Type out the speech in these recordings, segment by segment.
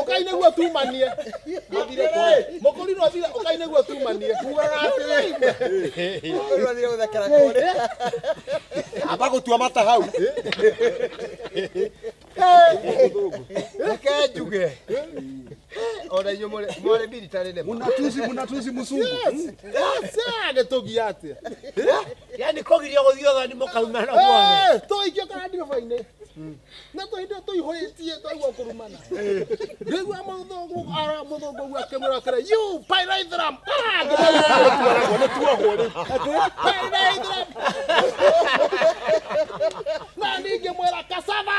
ũkainĩgua tumanie mũkũrinwo athire ũkainĩgua tumanie amba gũtua mata hau reke njuge ona inyuĩ mũrĩ- mwarĩ mbiritarĩ nĩ ma mũnatuzi mũnatuzi mũsungu nĩ tũgia atĩa yani kogirio guthio thani mukauma na guothe tũikio kana ndiribũ-inĩ na tũhĩndĩ tũihũrĩtie twaigua kũrumana rĩigua mũthũngũ ara mũthũngũ ũguo akĩmwĩra atĩrĩ you pyraithram pyraithram na ningĩ mwĩra kasava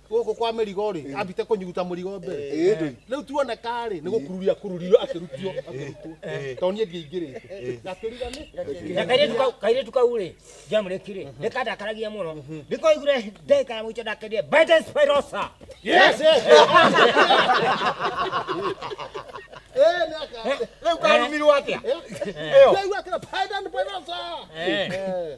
gũkũ kwa mĩrigo rĩ ambite kũnyuguta mũrigo mbere Ĩĩ ndũi. rĩu tuone karĩ nĩ gũkururia akururirwo akĩrutio akĩrutwo tondũ niĩ ndiaingĩrĩte gakĩriga nĩ na kairĩtu kau- kairĩtu kau rĩ ndiamũrĩki rĩ nĩkandakaragia mũno ndĩkoigire ndagĩka ya mũico ndakendie Biden Spirosa Yes, yes. Eh, nĩ aka- rĩu karumirwo atĩa Eh? Ĩyo. Ndĩraigua akĩra, "Biden Spirosa." Eh. Eh.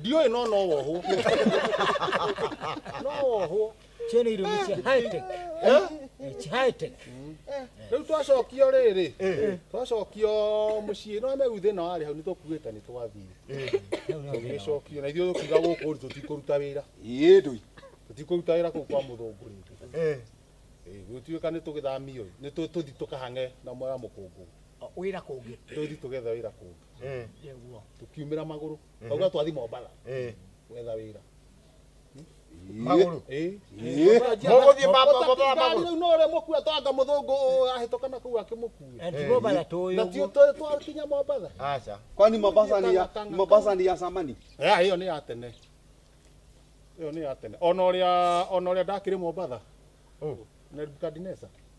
ndiũĩ no no wohwo no wohwo Ciana irio nĩ cia high tech. Eh? Eh, ci high tech. rĩu twacokio rĩrĩ twacokio mũciĩ no megu thĩna warĩ hau nĩ tũkuĩte nĩ twathire tũgĩcokio na ithuĩ tũkiuga gũkũ rĩ tũtikũruta wĩra ĩĩ ndũi tũtikũruta wĩra kũu kwa mũthũngũ rĩngĩ gũtuĩka nĩ tũgĩthamio nĩ tũ- tũthi tũkahange na mwera mũkũngũ wĩra kũngĩ tũthi tũgethe wĩra kũngĩ Eh, nĩguo tukiumĩra magũrũ kauga twathi mombala eh. gwetha wĩra Magũrũ. Ĩ. Mũgũthiĩ ma- ma- ma- magũrũ. rĩu no ũrĩa mũkua twanga mũthũngũ ũyũ ahĩtũka na kũu akĩmũkue Eh, tiguo bala tũĩ na ũguo. tiũ tũ- twakinya mombala Aca. kwani mombasa ni ya mombasa ni ya samani Ya, hiyo ni ya tene hiyo ni ya tene ona ũrĩa ona ũrĩa ndakĩrĩ mombala Oh. nebukadinesa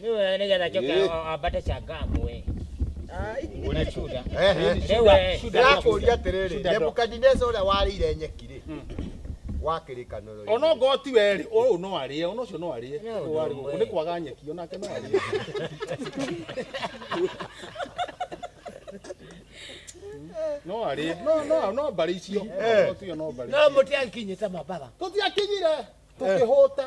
Niwe nigetha njoke Eh. a- ambate changamu eh. Una shuda. Eh, eh. Rĩu eh. ndĩrakũria atĩrĩrĩ Shuda ndo. nebukadineca ũrĩa warĩire nyeki rĩ wa kĩrĩkanĩro ona ngoo ti werĩ ũyũ no arĩe ona ũcio no arĩe No, Ũyũ warĩ no, gũkũ. we. nĩ kwaga nyeki onake no arĩe no arĩe no no no mbarĩ icio Ngoo tiyo no mbarĩ No mũtĩ ankinyĩte mabara. tũtiakinyire tũkĩhũta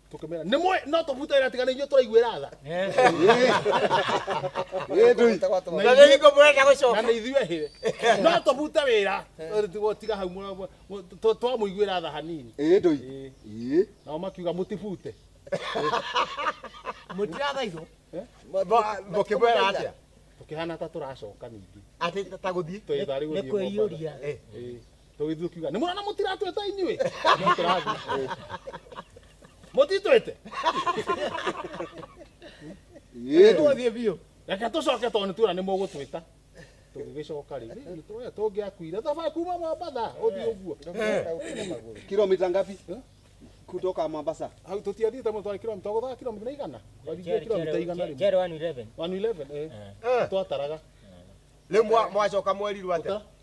tukimera ni mwe no tuvuta ira tigana inyo turaiguira tha Na rĩu hingo mũrenda na gũcoka nä ithuä hä no tå bute wä ra gå tiga hau twamå iguä ra tha hanini nao makiuga må tibute mũtirathaithwo mũkĩmwĩra atĩa tå kä hana ta tå racoka ningä atĩ ta gũthiĩ twä tharä gå nĩ thiä kwĩyũria tũgĩthiĩ kiuga nĩ mũrona mũtiratwĩta inyuĩ No tũrathiĩ. mũtitwĩte Tũthiĩ biũ. reke tũcoke tondũ nĩtuona nĩ mũgũtwĩta tũgĩgĩcoka rĩ nĩ tũrĩa tũngĩakuire thabarĩ kuma mombatha ũthiĩ ũguo Kilomita ngapi? Kutoka Mombasa. hau tũtiathiĩte mũno twarĩ kilomita gũthaa kilomita igana twarĩthiĩ kilomita igana rĩmwe Jerry 111. 111 eh twataraga Rĩu mwa- mwacoka mwerirwo atĩa? Gũtara?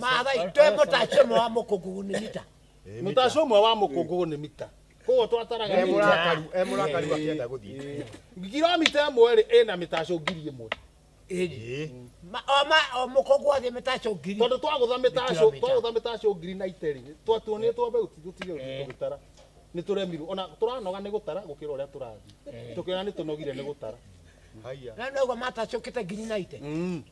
mathai twe mũtacio mwa mũkũngũgũ nĩ mita mũtacio ũmwe wa mũkũngũgũ nĩ mita koguo twataraga e mũrakaru e mũrakaru akĩenda gũthiĩ ngiromita ĩmwe rĩ ĩna mĩtacio ngiri ĩmwe mũkũngũ athiĩ mĩtacio ngiri tondũ twagũtha mĩtacio twagũtha mĩtacio ngiri na iteri twatuonĩtwo mbeũ tũtige gũtara nĩ tũremirwo ona tũranoga nĩ gũtara gũkĩra ũrĩa tũrathiĩ tũkĩona nĩ tũnogire nĩ gũtara haya na nĩ ũguo matacũkĩte ngiri na ite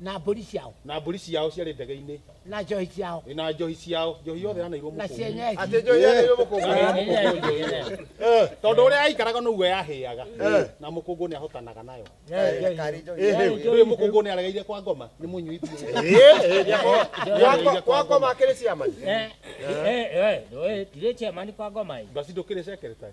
na mbũri ciao na mbũri ciao ciarĩ ndege-inĩ na njohi ciao ĩ, na njohi ciao njohi yothe yanairwo na mũkũngu cienyeji atĩ njohi yarĩirwo mũkũngu Eh, tondũ ũrĩa yaikaraga noguo yahĩaga na mũkũngũ nĩ ahotanaga nayo rĩu mũkũngũ nĩ aregeire kwa ngoma nĩ mũnyui biũ kwa ngoma akĩrĩ ciamani tirä ciamani kwa ngoma ĩ basi ndũkĩrĩ secretary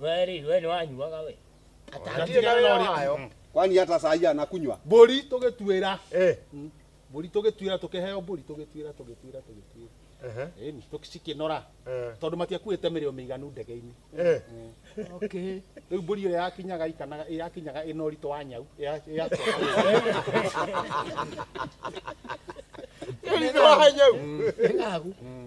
we rä we nä wanyuaga we Atarĩ na wĩra wayo. kwani hata saa hii anakunywa mbũri tũgĩtuĩra Eh. Mm. mbũri tũgĩtuĩra tũkĩheo mbũri tũgĩtuĩra tũgĩtuĩra tũgĩtuĩra Ehe. Ĩni, tũkĩcikinora Eh. tondũ matiakuĩte mĩrĩo mĩiganu ndege-inĩ Eh. Okay. rĩu mbũri ĩrĩa yakinyaga ikanaga yakinyaga ĩna ũritũ wa nyau ya- ya- Ũritũ wa nyau. Ng'agu.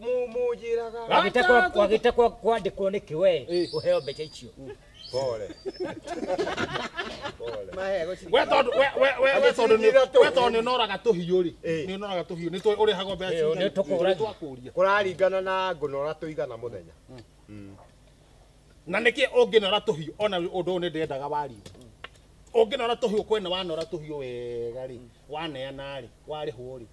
Mu- Mũnjĩraga. Wagĩtakwa- wagĩtakwa kwandĩkwo nĩ kĩwe Eh. ũheo mbeca icio Pole. Pole. Mahe gũcirika. we tondũ we we we we tondũ nĩ we tondũ nĩ ũnoraga tũhiũ rĩ Eh. nĩ ũnoraga tũhiũ nĩ tũ- ũrĩhagwo mbeca Eh, cigana? nĩ tũkũragia. twakũria Kũraringana na ngũnora tũigana mũthenya. na nĩkĩ ũngĩnora tũhiũ ona ũndũ ũyũ nĩ ndendaga wariĩ ũngĩnora tũhiũ kwena wanora tũhiũ wega rĩ waneana rĩ warĩhwo rĩ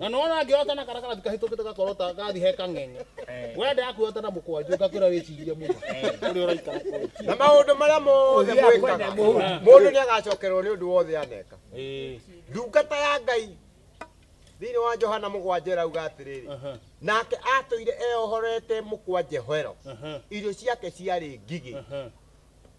na no ona ngä ota na kara karatu kahä tå kä te gakorota gathi he kang'eng'e Eh. we ndä yaku ota na må kwanjå ngakwä ra wä cirie må å rä a å raikara kå na maundu maria mothe Ũthiaga mwĩkaga kwenda mũhuri. mundu niagacokerwo ni undu wothe aneka ndungata ya ngai thiini wa johana mugwanja irauga atiriri nake atũire eohorete mũkwa njehoero irio ciake ciarĩ ngigĩ